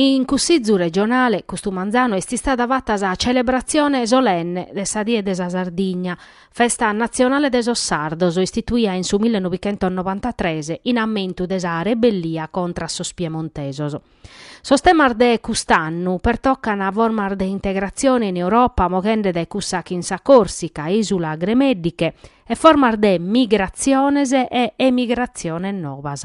In Cussìzu regionale custu manzanu est istada fata sa celebratzione solenne de sa Die de sa Sardigna, festa natzionale de sos sardos istituida in su millenovichentosnobantatres in ammentu de sa rebellia contra a sos piemontesos. Sos temas de cust'annu pertocan formas de integratzione in Europa moghende dae cussa chin sa Còrsica, ìsula gremèddiche, e formas de migratziones e emigratziones nobas.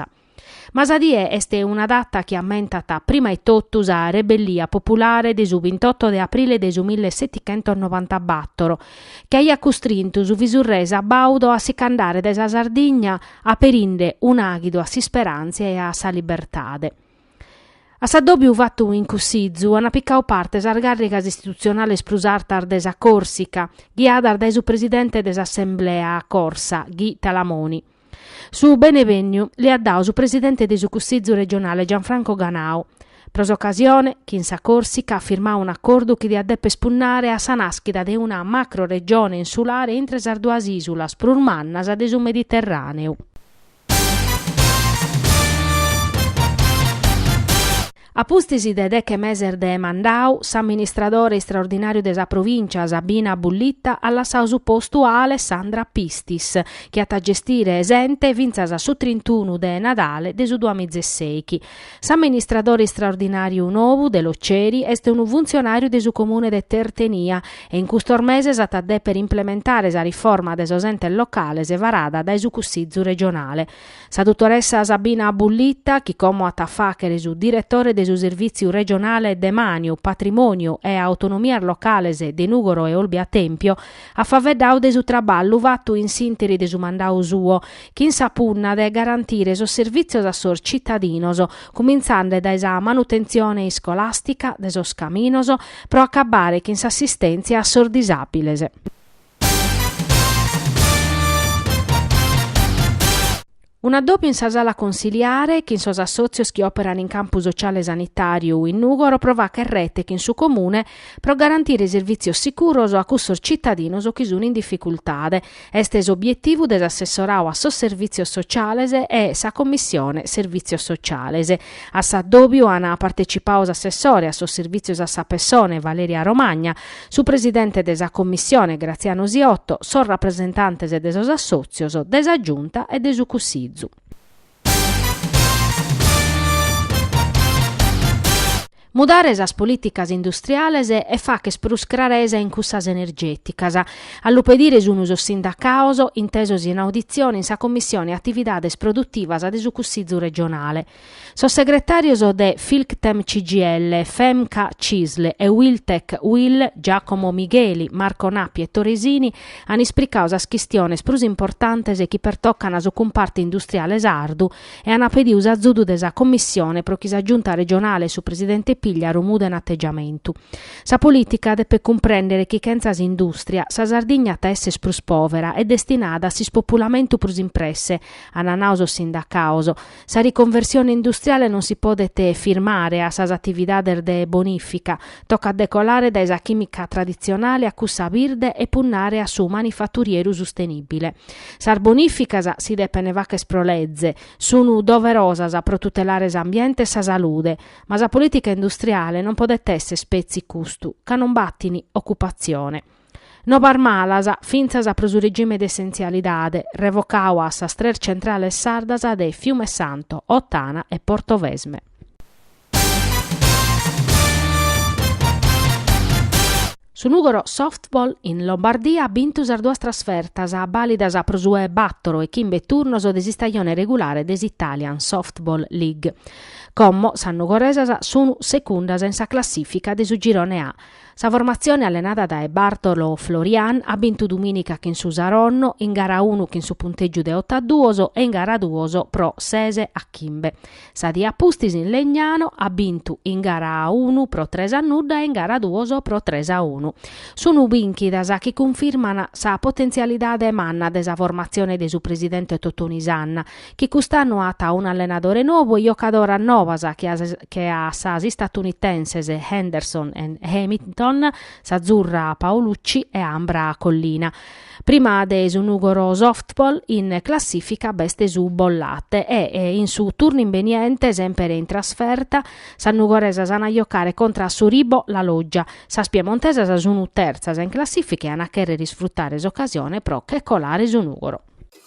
Ma sa die est una data chi ammentat prima e totu sa rebellia populare de su bintotto de aprile de su 1794, chi aiat custrintu su visurrè sabàudu a si ch'andare dae sa Sardigna aperinde un'àghidu a s'isperantzia e a sa libertade. A s'addòbiu fatu in Cussizu ant picadu parte sas càrrigas istitutzionales prus artas de sa Còrsica, ghiadas dae su presidente de s'Assemblea corsa, Guy Talamoni. Su benevènniu li at dadu su presidente de su Cussizu regionale Gianfranco Ganau. Pro s'ocasione, chin sa Còrsica, at firmadu un'acordu chi diat dèpere spunnare a sa nàschida de una macroregione insulare intre sas duas ìsulas prus mannas de su Mediterràneu. A pustis de deche meses de mandau, s'amministradore istraordinàriu de sa provìncia, Sabina Bullitta, at lassau su postu a Alessandra Pistis, chi at a gestire s'ente fintzas a su trintunu de Nadale de su duamiza e sèichi. S'amministradore istraordinàriu nou de Loceri est unu funtzionàriu de su comune de Tertenia e in custos meses at a dèpere implementare sa riforma de sos entes locales varada dae su Cussizu regionale. Sa dutoressa Sabina Bullitta, chi como at a fàghere su diretore de su Servìtziu Regionale Demàniu, Patrimòniu e Autonomias Locales de Nùgoro e Olbia Tèmpio, at faveddadu de su traballu fatu in s'ìnteri de su mandadu suo, chin sa punna de garantire sos servìtzios a sos citadinos, cumintzande dae sa manutentzione iscolàstica, de sos caminos, pro acabbare chin s'assistèntzia a sos disàbiles. Unu addòbiu in sa sala consiliare chin sos assòtzios chi òperan in campu sotziale sanitàriu in Nùgoro pro fagher rete chin su Comune pro garantire servìtzios sicuros a cussos tzitadinos chi sun in dificultade est s'obietivu de s'assessoradu a sos Servìtzios Sotziales e sa Commissione Servìtzios Sotziales. A s'addòbiu an partecipau s'assessore a sos Servìtzios a sa Pessone Valeria Romagna, su presidente de sa Commissione Graziano Siotto, sos rapresentantes de sos assòtzios, de sa Giunta e de su Cussizu. Mudare sas polìticas industriales e facher prus craresa in cussas energèticas, a lu pedire sun sos sindacados intesos in auditzione in sa Commissione Atividades Produtivas de su Cussizu regionale, sos segretàrios de Filctem CGIL, Femca Cisl e Uiltec Uil, Giacomo Migheli, Marco Nappi e Tore Sini, an ispricadu sas chistiones prus importantes chi pertocan su cumparte industriale sardu, e ant pediu s'azudu de sa Commissione pro chi sa Giunta regionale e su presidente Pigliaru muden ategiamentu. Sa polìtica depet cumprèndere chi chentza s'indùstria, sa Sardigna at a esser prus pòvera e destinada a s'ispopulamentu prus in presse, ant nau sos sindacados. Sa riconversione industriale non si podet firmare a sas atividades de bonìfica, Tocat de colare dae sa chimica traditzionale a cussa birde e punnare a su manifaturieru sustenibile. Sas bonificas, si depen facher pro leze, sunu doverosas pro tutelare s'ambiente e sa salude, ma sa politica industriale non podet esser spetzi custu ca non batin occupatzione. Novas malas, fintzas pro su regime de essentzialidade, revocadu a sas tres centrales sardas de Fiumesanto, Ottana e Portovesme. Su Nùgoro Softball in Lombardia at bintu sas duas trasfertas bàlidas pro su e bàtoro e chimbe turnos de s'istajone regulare de s'Italian Softball League. Como sas nugoresas sunu segundas in sa classìfica de su girone A, Sa formatzione allenada dae Bartolo Florian at bintu dumìnica chin su Saronno, in gara unu chin su puntègiu de oto a duos e in gara duos pro ses a chimbe. Sa die a pustis in Legnano at bintu in gara unu pro tres a nudda e in gara duos pro tres a unu. Sun bìnchidas chi cunfirman sa potentzialidade manna de sa formatzione de su presidente Totoni Sanna, chi cust'annu at unu allenadore nobu e jocadoras nobas che a sas istatunitenses Henderson e Hamilton, s'azzurra Paolucci e Ambra Collina. Prima de su Nugoro Softball in classìfica b'est su Bollate e, in su turnu imbeniente, semper in trasferta, sas nugoresas an a jocare contra a su Ribo La Loggia. Sas piemontesas sun terzas in classìfica e an a chèrrere isfrutare s'ocasione pro che colare su Nugoro.